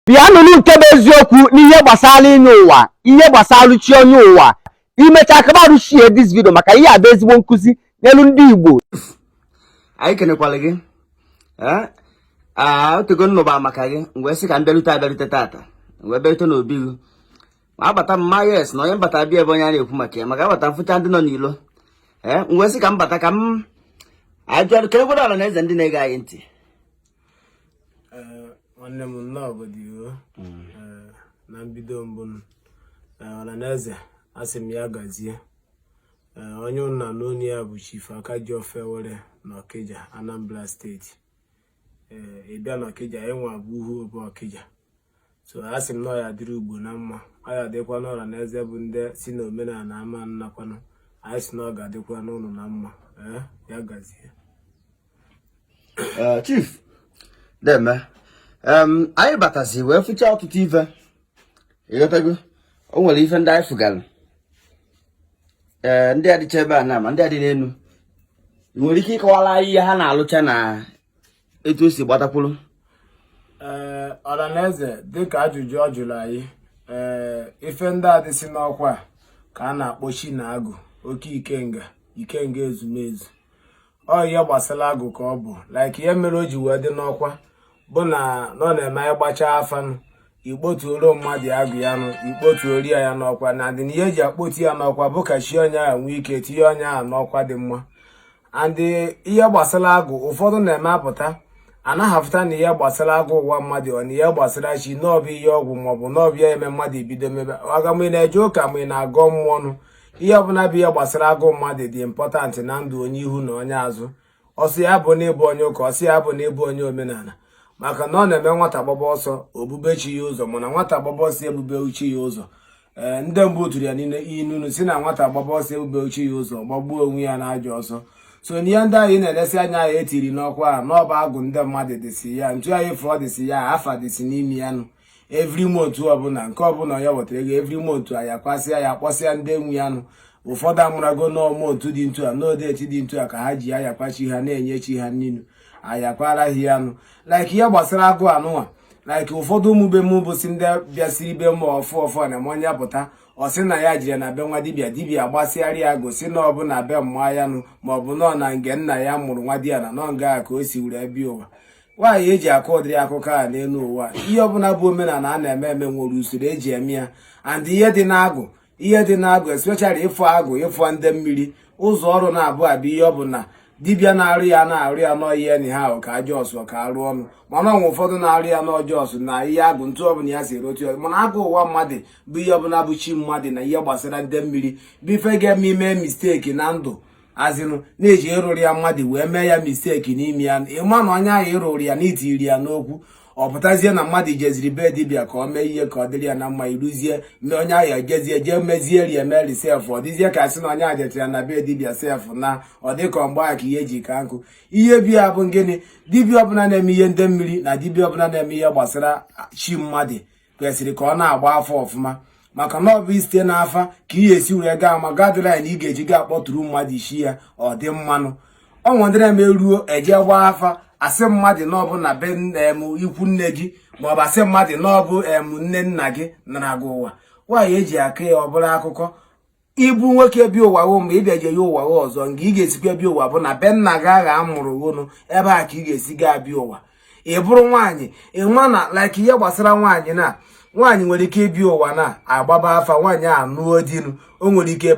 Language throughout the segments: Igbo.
bịa nụrụ nke bụ eziokwu n'ihe gbasara inye ụwa ihe gbasara chi onye ụwa imecha ka m share this video maka ihe a bụ ezigbo nkụzi nyelụ ndị igbo anyị kenekwara gị o tego m nụba maka gị m wee sị ka m bịarute abịarute tata wee bịarute n'obi gị m abata m ma yes na onye m bata bịa ebe onye a na-ekwu maka ya maka abata m fụcha ndị nọ n'ilo ee wee sị ka m bata ka m ajụọ ka e gwara ọla na eze ndị na-ege anyị ntị eh, nwanne m nnọọ obodo iwu mm. eh, na mbido mbụ ọra na eze asị m ya gazie onye unu na-anụ onu ya bụ chief akajiọfọ awele na ọkịja anambra steeti ị bịa na ọkịja ịnwa bụ uhuobo ọkịja so a sị m na ọ ya-adịrị ugbo na mma ọ ya-adịkwanụ ọra na eze bụ ndị si na omenala ama anakwanụ anyị si na ọ ga-adịkwanụ unu na mma eh, ya gazie eh, chief deeme anyị batazi wee fụcha ọtụtụ ife ị ghọtago o nwere ife ndị anyị fụgara ee eh, ndị a dịcha ebe a na ma ndị a dị n'elu i nwere ike ịkọwara anyị ihe ha na-alụcha na etu o si gbatakwuru ee eh, ọlanaeze dịka ajụjụ ọ jụrụ anyị ee eh, ife ndị a dịsị n'ọkwa ka a na-akpọsị na agwụ oke ikenga ikenga ezumezu ọ ihe gbasara agwụ ka ọ bụ like ihe mere o ji wee dị n'ọkwa bụ na ọ na-eme anyị gbachaa afa nụ ikpotuoro mmadụ agwụ ya nụ ikpotuoro ya ya n'ọkwa na adị na ihe eji akpotu ya n'ọkwa bụ ka chi onye ahụ nwee ike tinye onye ahụ n'ọkwa dị mma and ihe gbasara agwụ ụfọdụ na-eme apụta anaghị afụta na ihe gbasara agwụ ụwa mmadụ ọ na ihe gbasara chi na ọ bụ ihe ọgwụ maọbụ na ọ bụ ya eme mmadụ ebido mebe aga ma ị na-eje ụka ma ị na-agọ mmụọ nụ ihe ọbụla bụ ihe gbasara agwụ mmadụ dị important na ndụ onye ihu na onye azụ ọ sị ya bụ na ị bụ onye ụka ọ sị ya bụ na ị bụ onye omenala maka na ọ na-eme nwata gbaba ọsọ o bube chi ya ụzọ mana nwata gbaba ọsọ bube chi ya ụzọ ee ndị mbụ tụrụ ya n'inu nụ sị na nwata gbaba ọsọ bube chi ya ụzọ gbagbuo onwe ya n'ajọ ọsọ so n'ihe ndị anyị na-elesi anya ya etiri n'ọkwa a na ọ bụ agwụ ndị mmadụ dịsị ya ntu anyị fụọ dịsị ya afa dịsị n'ime ya nụ every month ọbụla nke ọbụla ya wetara ego every month anyị akwasịa ya kpọsịa ndị nwe ya nụ ụfọdụ amarago na ọ month dị ntu a na ọ date dị ntu a ka ha ji ya akwa chi ha na-enye chi ha nni nụ. anyị akwara ha ya nụ like ihe gbasara agwụ anụnwa like ụfọdụ ụmụ be m bụsi ndị bịasiri be m ọfụụ ọfụụ na-eme onye pụta ọ sị na ya jere na be nwa dibia dibia gbasịara ya agwụ sị na ọ bụ na be mma ya nụ ma ọ bụ nọ na nge nna ya mụrụ nwa di ya na nọ nga ka o si wee bịa ụwa nwaanyị eji akọ ụdịrị akụkọ a n'elu ụwa ihe ọbụla bụ omenala a na-eme eme nwere usoro eji eme ya and ihe dị n'agwụ ihe dị n'agụ especially ịfụ agụ ịfụ ndị mmiri ụzọ ọrụ naabụ a bụ ihe ọ bụ na dibịa na-arụ ya na-arụ ya n'ọyị enyi ha ahụ ka ajọ ọsụ ka arụ ọnụ mana o nwe ụfọdụ na-arụ ya n'ọjọ ọsụ na ihe agụ ntụ ọbụla ya si erotu ya mana agụ ụwa mmadụ bụ ihe ọbụla bụ chi mmadụ na ihe gbasara ndị mmiri bụ ife ga-eme i mee mistake na ndụ as in na-eji ịrụrụ ya mmadụ wee mee ya mistake n'ime ya ị ma na onye ahụ ị rụrụ ya na i tiri ya n'okwu ọ pụtazie na mmadụ jeziri be dibịa ka ọ mee ihe ka ọ dịrị ya na mma iruzie mee onye ahụ ejezie jee mezie rie meri sef ọ dịzie ka a sị na onye ahụ jetara na be dibịa sef na ọ dịka mgbe ahụ ka ihe ji ka njọ ihe bi ya bụ gịnị dibịa ọbụla na-eme ihe ndị mmiri na dibịa ọbụla na-eme ihe gbasara chi mmadụ kwesịrị ka ọ na-agba afa ọfụma maka na ọ bụ isite n'afa ka ị esi were gaa ma guideline ị ga-eji gaa kpọtụrụ mmadụ isi ya ọ dị mma nụ o nwedịrị eme ruo eje gbaa afa a sị mmadụ na ọ bụ na be em ikwu nne gị maọbụ a sị mmadụ na ọ bụ em nne nna gị nara gị ụwa nwaanyị eji aka ya ọ bụrụ akụkọ ị bụ nwoke bịa ụwa ghụ ma ị bịaje ya ụwa ghụ ọzọ nga ị ga-esikwa bịa ụwa bụ na be nna gị ahụ a mụrụ ghụ nụ ebe a ka ị ga-esi gaa bịa ụwa ị bụrụ nwaanyị ị ma na like ihe gbasara nwaanyị na nwaanyị nwere ike ịbịa ụwa na-agbaba afa nwaanyị anụọ di nụ o nwere ike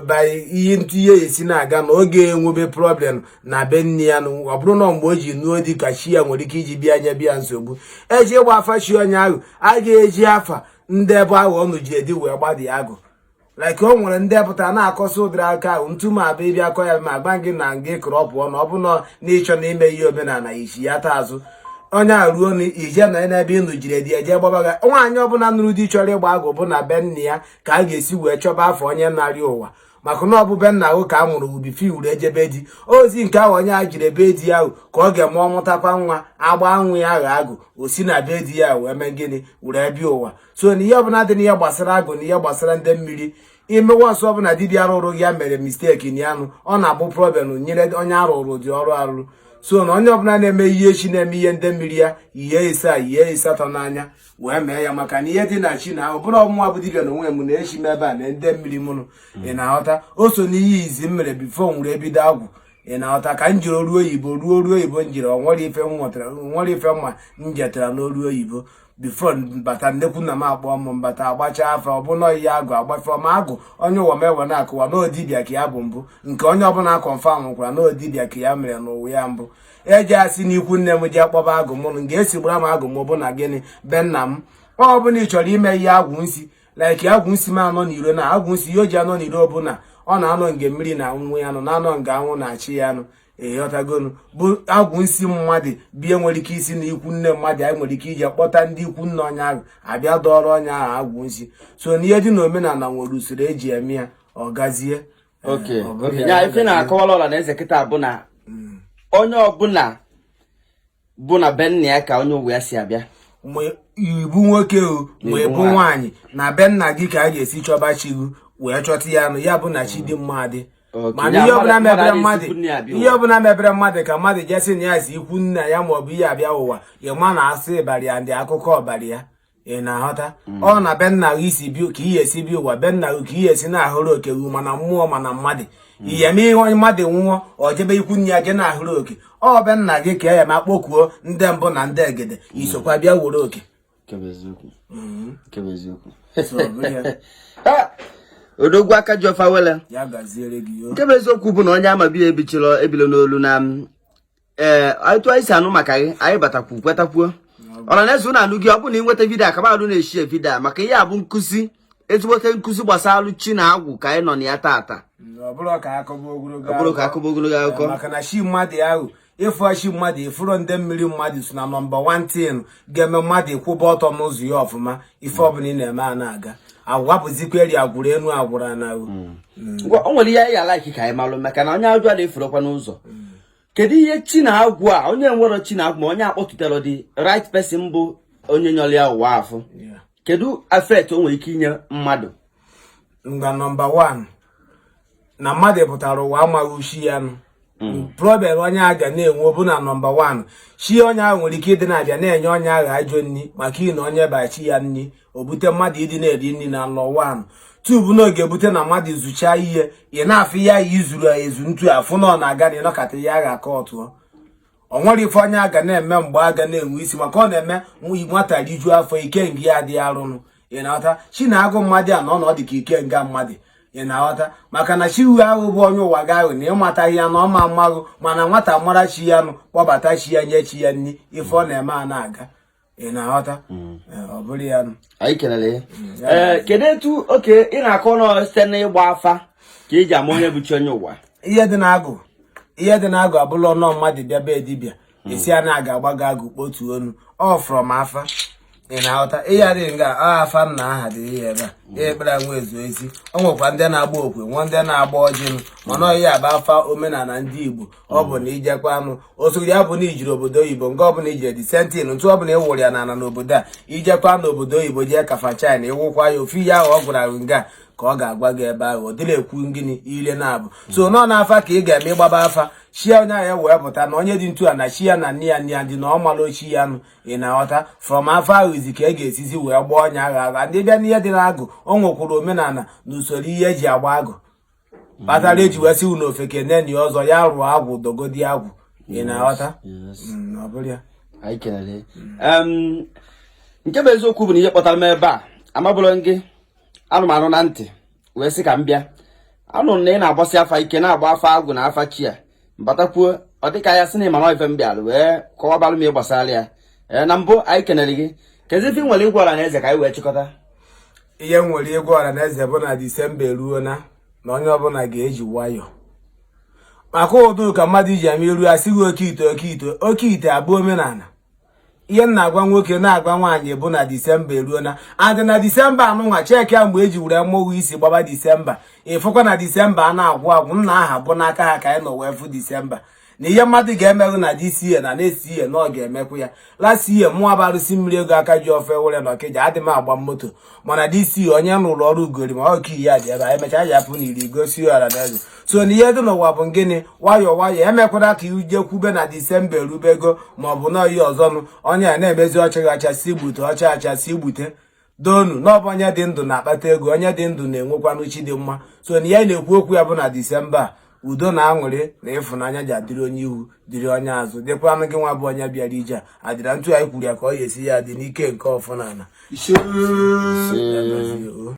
bayi ihe ntụ ihe esi na-aga na ọ ga-enwebe problem na be nne ya na ọ bụrụ na mgbe o ji nụọ di ka chi ya nwere ike iji bịa nyebe ya nsogbu e je ịgba afa chi onye ahụ a ga-eji afa ndị ebe ahụ ọ nụjere di wee gbadi agụ like o nwere ndị pụta na-akọsị ụdịrị aka ahụ ntu ma abịa ị bịa akọ ya m agwa gị na nga ị kọrọ ọ pụọ na ọ bụna na ị chọ na ime ihe omenala isi ya taa azụ onye a ruo na ije na n'ebe ị nụjere di eje gbaba gị nwaanyị ọbụla nụrụ di chọrọ ịgba agụ bụ na be nne ya ka a ga-esi wee chọba afa onye nara ya ụwa maka na ọ bụ be nna ahụ ka a mụrụ ghụ before i were jebe di ozi nke ahụ onye a jere be di ya ahụ ka ọ ga-eme ọ mụtakwa nwa a gbaa nwa ya ahụ agụ o si na be di ya wee mee gịnị were bịa ụwa so na ihe ọbụla dị n'ihe gbasara agụ na ihe gbasara ndị mmiri imewe ọsọ ọbụla dibịa rụrụ ya mere mistake na ya nụ ọ na-abụ problem nyere onye a rụrụ ụdị ọrụ arụrụ so na onye ọbụla na-eme ihe chi na-eme ihe ndị mmiri ya ihe ise a ihe ịsatọ n'anya wee mee ya maka na ihe dị na chi na ọ bụrụ mụnwa bụ dibịa na onwe m na chi m ebe a na ndị mmiri mụ nụ ị na-aghọta o so n'ihe izi m mere before m were ebido agwụ ị na-aghọta ka m jere ọrụ oyibo ọrụ ọrụ oyibo m jere o nwere ife m nwetara nwere ife mma m jetara n'ọrụ oyibo before bata nnekwu nna m akpọ m m bata agbacha afa ọ bụ na ihe agụ agbafe ma agụ onye ụwa m ewe na-akọwa na ọ dibịa ka ya bụ mbụ nke onye ọbụla confirm kwara na ọ dibịa ka ya mere n'ụwa ya mbụ eji asị na ikwu nne m ji akpọba agwụ mụrụ m ga-esi gbara m agwụ m bụ na gịnị be nna m ọ bụ na ị chọrọ ime ihe agwụ nsi like agwụ nsi m anọ n'iro na agwụ nsi ihe o ji anọ n'iro bụ na ọ na-anọ nge mmiri na-ama ya nụ na-anọ nge anwụ na-acha ya nụ ịghọtagonu bụ agwụ nsi mmadụ bie nwere ike isi na ikwu nne mmadụ anyị nwere ike iji kpọta ndị ikwu nne onye ahụ abịa dọọrọ onye ahụ agwụ nsi so na ihe dị na omenala nwere usoro eji eme ya ọ gazie oke oke ya ife na-akọwala ọla na eze kịta bụ na mm. onye ọbụla bụ na be nna ya ka onye ụwa ya si abịa ma ịbụ nwoke o ma ịbụ nwaanyị na be nna gị ka a ga-esi chọba chi gị wee chọta ya nụ ya bụ na chi dị mma dị mana ihe ọbụla mebere mmadụ ka mmadụ jesi na ya si ikwu nna ya maọbụ ihe abịa ụwa ịma na asị bara ya ndị akụkọ bara ya ị na-aghọta mm. ọ na be nna gị isi bi ka esi bịa ụwa be nna gị ka esi na-ahọrọ oke gị ma na mmụọ ma na mmadụ mm. ihe ma ihe onye mmadụ nwụọ ọ jebe ikwu nne ya je na-ahọrọ oke ọ be nna gị ka ya ma kpokuo ndị mbụ na ndị egede mm. isokwa bịa were oke odogwu aka ji ọfọ awele nke bụ eziokwu bụ na onye amabi ebichila ebilo n'olu na ee otu anyị si anụ maka gị anyị batakwu kwetakwuo ọra na eze ụnụ anụ gị ọ bụrụ na ị nweta vidio a kaba alụ na-eshare vidio a maka ihe a bụ nkụzi ezigbote nkụzi gbasara chi na agwụ ka anyị nọ na ya taata ọ bụrọ ka akọba ogologo akụkọ maka na chi mmadụ ahụ ịfụ chi mmadụ ịfụrụ nde mmiri mmadụ so na nọmba 1 ga-eme mmadụ ịkwụba ọtọ n'ụzọ ya ọfụma ife ọbụla ị na-eme a na-aga aga bụzikwa eri agwụrụ enu agwụrụ na o nwere ihe anyị ya alaiki ka anyị malụ maka na onye ajụ na-efurokwa n'ụzọ kedu ihe chi na agwụ a onye nwere chi na agwụ ma onye akpọtụtara the right person bụ onye nyọrọ ya ụwa afụ kedu effect o nwere ike inye mmadụ ngwa nọmba 1 na mmadụ pụtara ụwa amaghị chi ya nụ Mm. problem onye a ga na-enwe bụ na nọmba 1 chi onye ahụ nwere ike ịdị na-abịa na-enye onye ahụ ajọ nri maka ihi na o nyeba chi ya nri o bute mmadụ ịdị na-eri nri na nlọ 1 2 bụ na ọ ga-ebute na mmadụ zuchaa ihe ị na-afụ ya izuru ezu ntu afụ na ọ na-aga na ịnọkata ya agha aka ọtụọ o nwerọ ife onye a ga na-eme mgbe aga na-enwe isi maka ọ na-eme nwata rijuo afọ ikenga ya adịghị arụnụ ị na-aghọta chi na agwụ mmadụ a na ọ na ọ dị ka ikenga mmadụ ị na-aghọta maka na chi ụwa ahụ bụ onye ụwa gị ahụ na ịmataghị ya na ọma mmaghụ mana nwata mara chi ya nụ kpọbata chi ya nye chi ya nri ife ọ na-eme a na-aga ị na-aghọta hmm. eh, ọ bụrụ ya anyị kelere hmm, eh, kedu etu oke ị na-akọ nọ site n'ịgba afa ka eji ama onye bụ chi onye ụwa ihe dị n'agwụ ihe dị n'agwụ abụla ọnọ mmadụ bịa be dibịa hmm. esi a na-aga agba gị agwụ kpọtụ ọnụ ọ from afa ị na-aghọta ịgharị nga afa m na aha dị ihe ebe a ekpere nwa ezu ezi o nwekwa ndị na-agba okwe nwee ndị na-agba ọjị mana ọ ihe a bụ afa omenala ndị Igbo ọ bụ na ijekwanụ otu ya bụ na ijere obodo oyibo nke ọbụla ijere the same thing ntụ ọbụla ịwụrụ ya n'ala n'obodo a ijekwa n'obodo oyibo jee kafa china ịwụkwa ya ofu ihe ahụ ọ gwara gị nga ka ọ ga-agwa gị ebe ahụ ọ dịla ekwu ngịnị ile naabọ so nọ n'afa ka ị ga-eme ịgbaba afa chi onye ahụ e wee pụta na onye dị ntu a na chi ya na nne ya nne ya dị na ọ mara ochi ya nụ ị na-aghọta from afa ahụzi ka a ga-esizi wee gbaa onye ahụ afa dibịa n'ihe dị n'agwụ o nwekwuru omenala na usoro ihe eji agba agwụ kpatara eji wee sị unu ofeke neni ọzọ ya rụọ agwụ dogodi agwụ ị na-aghọta mm, ọ bụrụ ya anyị kelere nke bụ eziokwu bụ na ihe kpọtara m ebe a amaburọ m gị anụ m anụ na ntị wee sị ka m bịa anụrụ m na ị na-agbasi afa ike na-agba afa agwụ na afa chi ya batakwuo ọ dịka ya sị na ịmama ife m bịara wee kọwabalụ m ihe gbasara ya ee na mbụ anyị kenere gị kezi ife i nwere ịgwa ọra na eze ka anyị wee chịkọta ihe m nwere ịgwa ọra na eze bụ na disemba eruo na na onye ọbụla ga-eji nwayọọ maka ụdụ ka mmadụ iji ama iru ya sighi oke ite oke ite oke ite abụrọ omenala ihe m na-agwa nwoke na-agwa nwaanyị bụ na disemba eruo na adị na disemba anụnwa cheki ya mgbe eji were mmụọ isi gbaba disemba ịfụkwa na disemba anaghị agwụ agwụ nna anyị ha bụ n'aka ha ka anyị nọ wee fụ disemba na ihe mmadụ ga-emehụ na this year na next year na ọ ga-emekwu ya last year mụwa bụ arụsị mmiri ego aka ji ọfọ awele na ọkịja adị m agba moto mana this year onye rụrụ ọrụ ugori ma ọka iyi ya dị ebe anyị mechaa ya pụ na iro gosi ọra na eze so na ihe dị n'ụwa bụ gịnị nwayọọ nwayọọ emekwara ka ije kwube na disemba erubego ma ọ bụ na oyi ọzọnụ onye a na-emezi ọ chaghị acha sị gbute ọ cha acha sị gbute donu n'ọbụ onye dị ndụ na-akpata ego onye dị ndụ na-enwekwanụ chi dị mma so na ihe m na-ekwu okwu ya bụ na disemba a udo na aṅụrị na ịfụnanya ja-adịrị onye ihu dịrị onye azụ dịkwanụ gị nwa bụ onye bịara ije a adịra ntu anyị kwuru ya ka ọ ya-esi ya dị n'ike nke ọfọ na ala